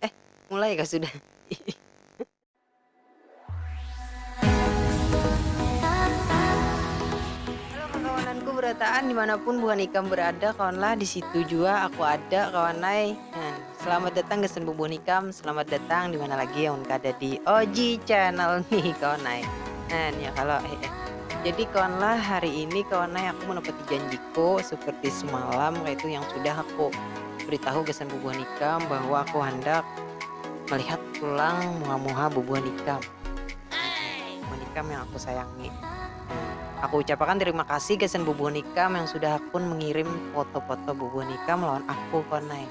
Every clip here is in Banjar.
Eh, mulai kah sudah? Halo kakawananku berataan dimanapun buhan ikam berada kawanlah disitu jua aku ada kawanai nah selamat datang gasan bubuhan ikam selamat datang dimana lagi amun kada di OG channel nih kawanai nah ya kalo hehe jadi kawanlah hari ini kawanai aku menepati janjiku seperti semalam kaitu yang sudah aku. Beritahu gasan bubuhan ikam bahwa aku handak melihat pulang muha-muha bubuhan ikam. Bubuhan ikam yang aku sayangi. Aku ucapakan terima kasih gasan bubuhan ikam yang sudah hakun mengirim foto-foto bubuhan ikam lawan aku kawan ai.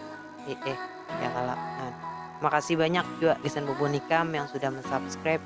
Hi-eh, ya kalo. Nah, terima kasih banyak jua gasan bubuhan ikam yang sudah men-subscribe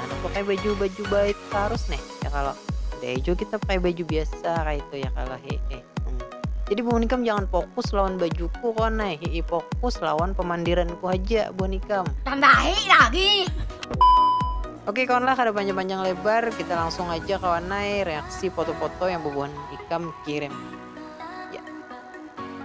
karena pakai baju baju baik harus nih ya kalau deh juga kita pakai baju biasa kayak itu ya kalau he he hmm. jadi bu nikam jangan fokus lawan bajuku kon nih he fokus lawan pemandiranku aja bu nikam tambahi lagi Oke kawan lah ada panjang-panjang lebar kita langsung aja kawan naik reaksi foto-foto yang bubuhan ikam kirim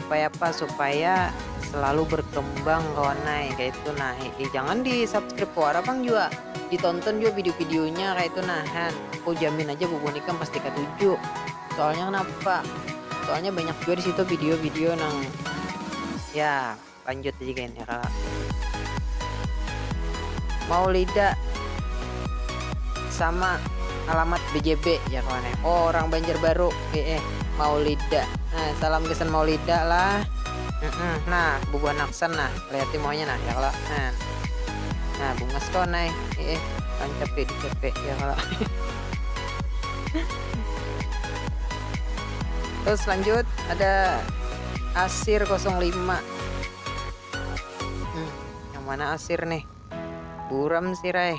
Supaya apa supaya selalu berkembang kawan ai kaya itu nah hii jangan di subscribe wara pang jua di tonton jua video video nya kaya itu nah han ku jamin aja bubun ikam pasti katuju soalnya kenapa soalnya banyak jua disitu video video nang ya. Lanjut aja gin ya kalo. Maulida sama alamat bjb jar kawan eh oh orang banjarbaru eeh maulida nah salam gasan maulida lah eeh nah bubuhan aksan nah lihati muhanya nah ya kalo nah nah bungas kawan ai eeh rancap di dcp ya kalo terus lanjut ada. Asir kosong lima. Hmm, yang mana asir nih? Buram sih, Rai.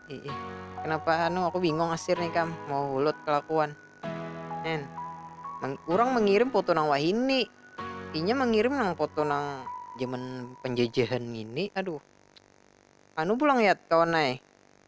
Ih, kenapa anu aku bingung asir nih kam mau hulut kelakuan. Nen. Meng, orang mengirim foto nang wahini. Inya mengirim nang foto nang zaman penjajahan ini. Aduh. Anu pulang ya kawan naik.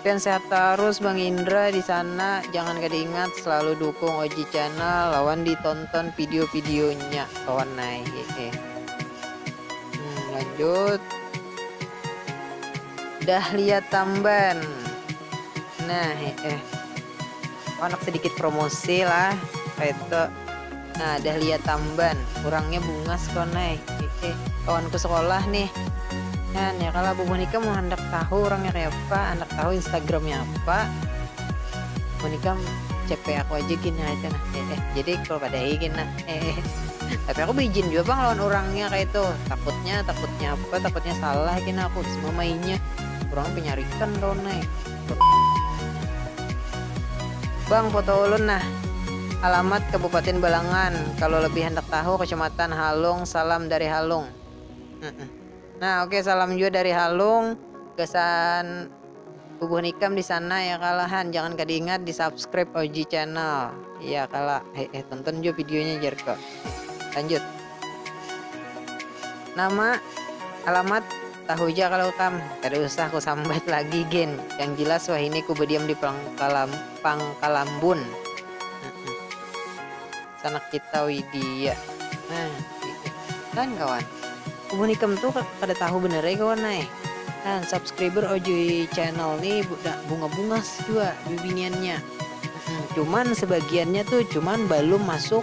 Pian sehat tarus bang indra disana jangan kada ingat selalu dukung oji channel lawan di tonton video video nya kawan ai hehe hmm lanjut dahlia tamban nah heeh. Handak sedikit promosi lah kaitu. Nah Dahlia Tamban, urangnya bungas pang ai, hehe, kawanku sekolah nih. Nyan ya kalo Abah Monika mun handak tahu urangnya kayapa, handak tahu Instagramnya apa, Monika CP aku aja gin kaitu nah, hehe, jadi kalo kada hi gin nah, hehe. Tapi aku beijin jua pang lawan urangnya kaitu, takutnya takutnya apa, takutnya salah gin aku, bisa mamainya, urangnya penyarikan kawan ai. Bang foto ulun nah. Alamat kabupatin balangan kalo lebih handak tahu kecamatan halung salam dari halung nah oke salam jua dari halung gasan bubuhan ikam disana ya kala han jangan kada ingat di subscribe og channel ya kala hehe tonton jua videonya jar ko lanjut nama alamat. Tahu ja kalo kam, kada usah ku sambat lagi gin, yang jilas wahini ku badiam di Pangkalambun. Sanak kita widia. Nah gitu kan kawan. Amun ikam tu kada tahu banar ai kawan ai. Nah subscriber ojoi channel ni bunga-bungas jua bibiniannya. Cuman sebagiannya tu cuman balum masuk.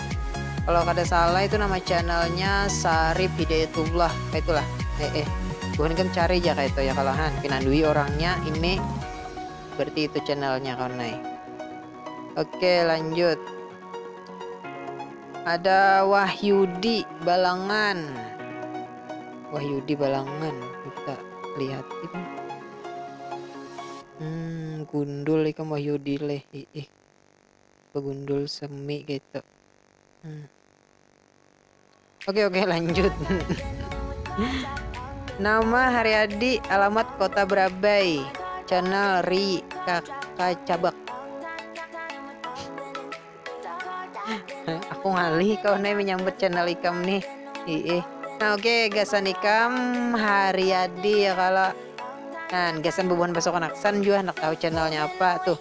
Kalau kada salah itu nama channelnya Sarip Hidayatullah kaitu lah eh eh buhan ikam cari ja kaitu ya kalo ha pina dui orangnya ini berarti itu channelnya kawan ai ok lanjut ada Wahyudi Balangan Wahyudi Balangan kita lihat ini hmm gundul ikam Wahyudi leh ih begundul semi gitu hmm. oke oke lanjut nama Haryadi alamat kota Berabai channel Ri kakak cabak aku ngalih kau nih menyambut channel ikam nih Iih. Nah oke okay, gasan ikam Haryadi ya kalau Nah gasan bubuhan besok anak san juga anak tahu channelnya apa tuh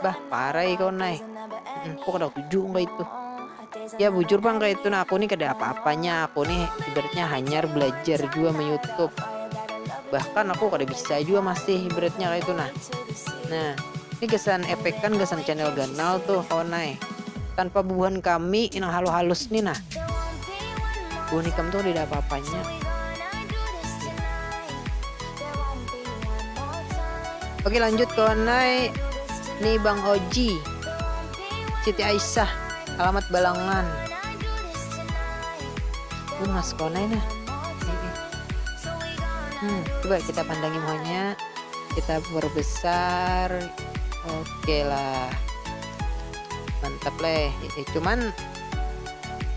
Bah, parah ya kawan nai. Hmm, kok kada tujuh enggak itu? Ya bujur bang kayak itu nah aku nih kada apa-apanya, aku nih ibaratnya hanyar belajar juga me YouTube. Bahkan aku kada bisa juga masih ibaratnya kayak itu nah. Nah, ini kesan efek kan kesan channel ganal tuh kawan nai. Tanpa bubuhan kami yang halu halus nih nah. Bubuhan ikam tuh tidak apa-apanya. Oke lanjut kawan nai Ni Bang Oji Siti Aisyah Alamat Balangan Ini mas kawan nai nah hmm, Coba kita pandangi muhanya Kita berbesar Oke lah Mantap leh eh, Cuman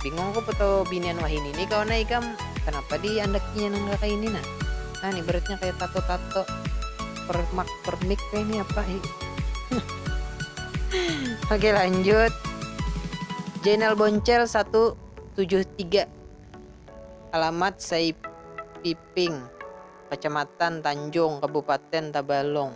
Bingung aku foto binian wahini ini kawan nai ikam Kenapa di andakinya nang kayak ini nah Nah nih beratnya kayak tato-tato permak permik kayak ini apa hi. Oke lanjut. Jainal Boncel 173. Alamat Saipiping, Kecamatan Tanjung, Kabupaten Tabalong.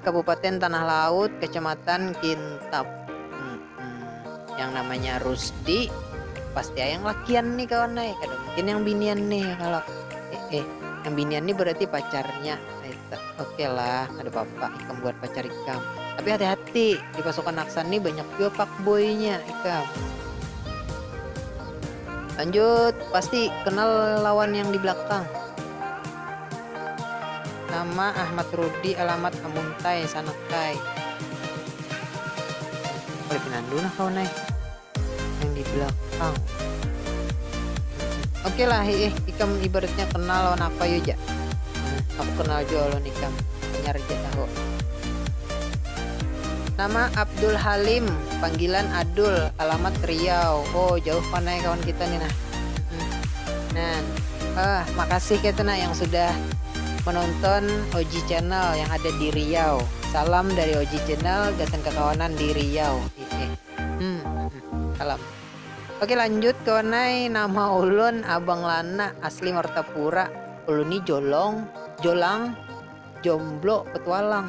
Kabupaten Tanah Laut, Kecamatan Kintap. Yang namanya Rusdi pasti ayang lakian nih kawan ay. Kada mungkin yang binian nih kalau eh, eh yang binian nih berarti pacarnya. Oke okay lah, ada apa-apa ikam buat pacar ikam. Tapi hati-hati di pasukan Aksan nih banyak juga pak boynya ikam. Lanjut, pasti kenal lawan yang di belakang. Nama, Ahmad Rudi Alamat, Amuntai, Sanaktai. Kada pinandu nah kawan ai nang di belakang. Oke lah hi ih, ikam ibaratnya kenal lawan apa yu ja. Aku kenal jua lawan ikam, hanyar ja tahu. Nama, Abdul Halim, panggilan Adul, Alamat Riau. Oh jauh pang ai kawan kita ni nah. Nah, eh, makasih kaytu nah yang sudah menonton Oji Channel yang ada di Riau. Salam dari Oji Channel gasan kakawanan di Riau. Hehe. Hmm, hmm, salam. Oke lanjut kawan ai, nama ulun Abang Lana, asli Martapura. Ulun ni jolong, jolang, jomblo, petualang.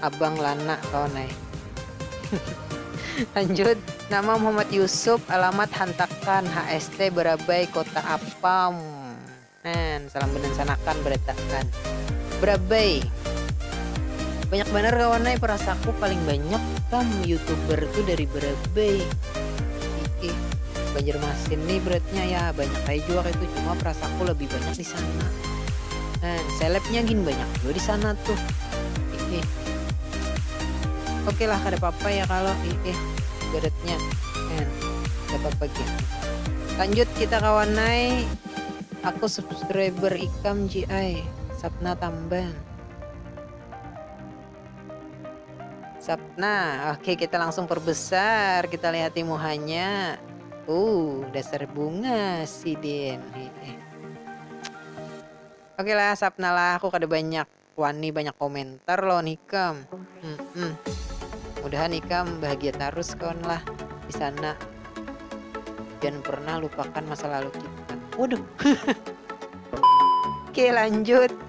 Abang Lana kawan ai. Lanjut, nama Muhammad Yusuf, alamat hantakan HST Barabai kota apam Nah, salam banansanakan barataan. Barabai. Banyak banar kawan ai, parasaku paling banyak kam youtuber tu dari Barabai. Iih, Banjarmasin ni beratnya, ya banyak ai jua kaitu, cuma parasaku labih banyak di. sana nah selebnya gin banyak juga di sana tuh ih oke okay lah kada apa-apa ya kalau ih ih beratnya nah kada apa-apa gin lanjut kita kawanai aku subscriber ikam ji ai sapna tamban sapna oke okay, kita langsung perbesar kita lihati muhanya uh dasar bunga sidin ih, ih. Oke lah, sapna lah. Aku kada banyak wani banyak komentar lawan ikam. Hmm, hmm. Mudahan ikam bahagia tarus kawan lah di sana. Jangan pernah lupakan masa lalu kita. Waduh. Oke, lanjut.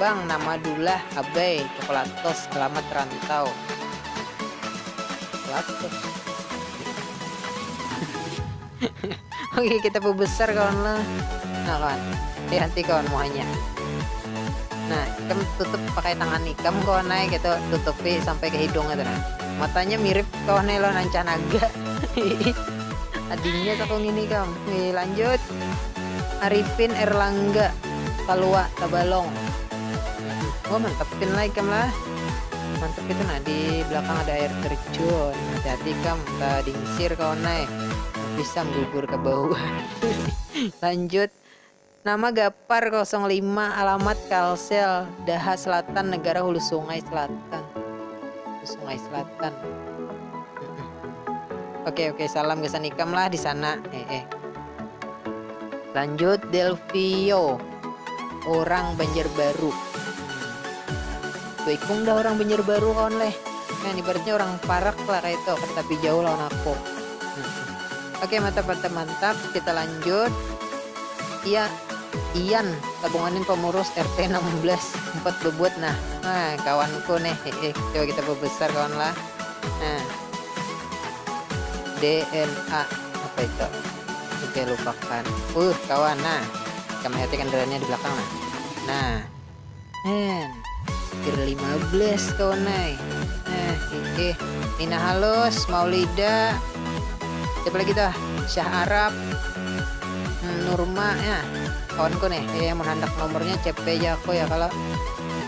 Bang nama dulah abai coklatos alamat rantau coklatos oke kita pebesar kawan lah nah kawan hati-hati kawan muhanya nah ikam tutup pakai tangan ikam kawan ay gitu tutupi sampai ke hidung itu nah matanya mirip kawan ay lawan ancah naga adinya sakung ini kam Wih, lanjut Arifin Erlangga Palua Tabalong oh mantap pin lah ikam lah mantap itu nah di belakang ada air terjun hati hati ikam ta dingsir kawan ai pisang gugur ka bawah lanjut nama Gapar 05 alamat Kalsel Daha Selatan negara hulu sungai selatan hulu sungai selatan oke oke salam gasan ikam lah disana hehe. Lanjut Delvio orang Banjarbaru Tuikung dah orang Banjarbaru kawan leh kan ibaratnya orang Parak lah kayak itu kan tapi jauh lawan aku hmm. oke mantap mantap mantap kita lanjut iya Ian tabunganin pemurus RT 16 empat bebuat nah nah kawanku nih eh, coba kita berbesar kawan lah nah DNA apa itu oke lupakan uh kawan nah kita melihat kendaraannya di belakang nah nah eh kir 15 kawan nah eh oke Nina Halus Maulida siapa lagi tuh Syah Arab hmm, Nurma ya kawanku nih eh, yang menghandak nomornya CP aja aku ya kalau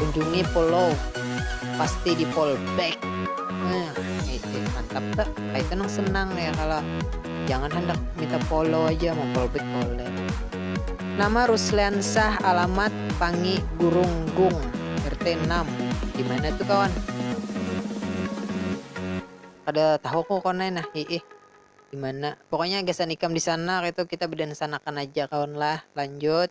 Kunjungi follow pasti di follow back nah itu mantap tak itu nang senang ya kalau jangan hendak minta follow aja mau follow back boleh nama Rusliansah alamat Pangi Gurunggung RT 6 dimana tuh kawan kada tahu aku kawan ai nah hiih dimana pokoknya gasan ikam disana kaitu kita bedansanakan aja kawan lah lanjut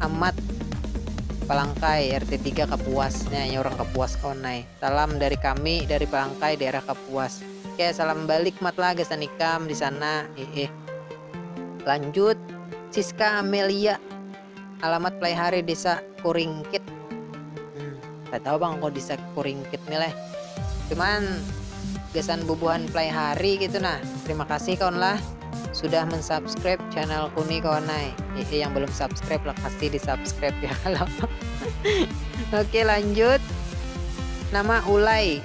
Amat Palangkai RT tiga Kapuas nya nya urang Kapuas kawan ai. Salam dari kami dari Palangkai daerah Kapuas. Oke salam balik Mat lah gasan ikam di sana iih. Lanjut Siska Amelia alamat Playhari desa Kuringkit. Kada tahu pang aku disak kuringkit ni leh. Cuman gasan bubuhan play hari gitu nah. Terima kasih kawan lah sudah mensubscribe channelku ni kawan ai. Hehe yang belum subscribe lah pasti di subscribe ya kalau. Oke lanjut. Nama Ulay.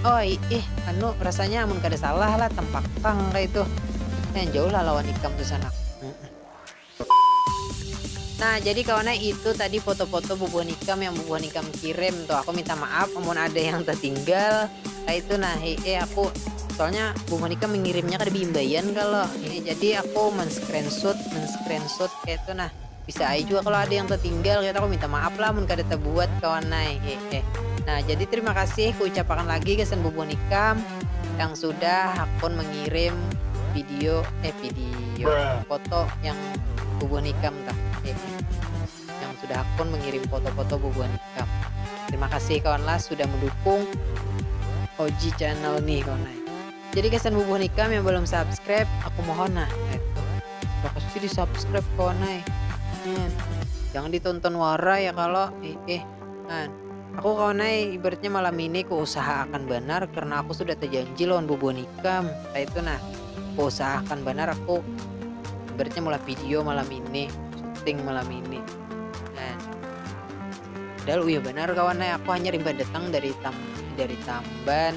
Oi, ih, anu, rasanya amun kada salah lah tempak pang kaitu. Lumayan jauh lah lawan ikam tu sanak. Nah, jadi kawan ai, itu tadi foto-foto bubuhan ikam yang bubuhan ikam kirim tuh. Aku minta maaf amun ada yang tatinggal kaitu nah, hehe aku. Soalnya bubuhan ikam mengirimnya kada beimbaian kalo. Hehe, jadi aku men-screenshot, men-screenshot kaitu nah. bisa ai jua kalau ada yang tertinggal kita aku minta maaf lah mun kada terbuat kawan ai hehe nah jadi terima kasih kuucapakan lagi gasan bubuhan ikam yang sudah hakun mengirim video eh video foto yang bubuhan ikam tah hehe yang sudah hakun mengirim foto-foto bubuhan ikam terima kasih kawan lah sudah mendukung Oji channel nih kawan ai Jadi gasan bubuhan ikam yang balum subscribe aku mohon nah etu kada kasi di subscribe kawan ai kan jangan ditonton wara ya kalo iih kan aku kawan ai ibaratnya malam ini ku usaha akan banar karena aku sudah terjanji lawan bubuhan ikam kaya itu nah ku usaha akan banar aku ibaratnya mulah video malam ini syuting malam ini kan padahal uyuh banar kawan ai aku hanyar imbah datang dari tam dari tamban